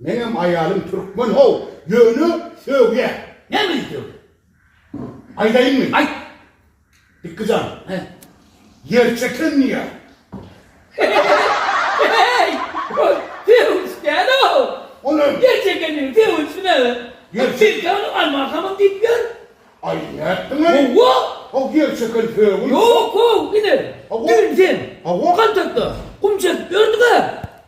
Meňem aýalym türkmen how ýöne sögýä. Nämeni sögýä? Aýdaýynmy? Aýt. Pikkijan. He. Ýer çeken diýä. Heý! Ol sögüş däl how. O näme? Ýer çekeniň sögüşi näme? Ýer çe. Biz ýaly almahamyň diýip ýör. Aý nätdiň aý? Hawa. How ýer çeken sögüş. Ýok how ine. Düýn sen. Hawa. Gantakda gum çekip ýördüňä.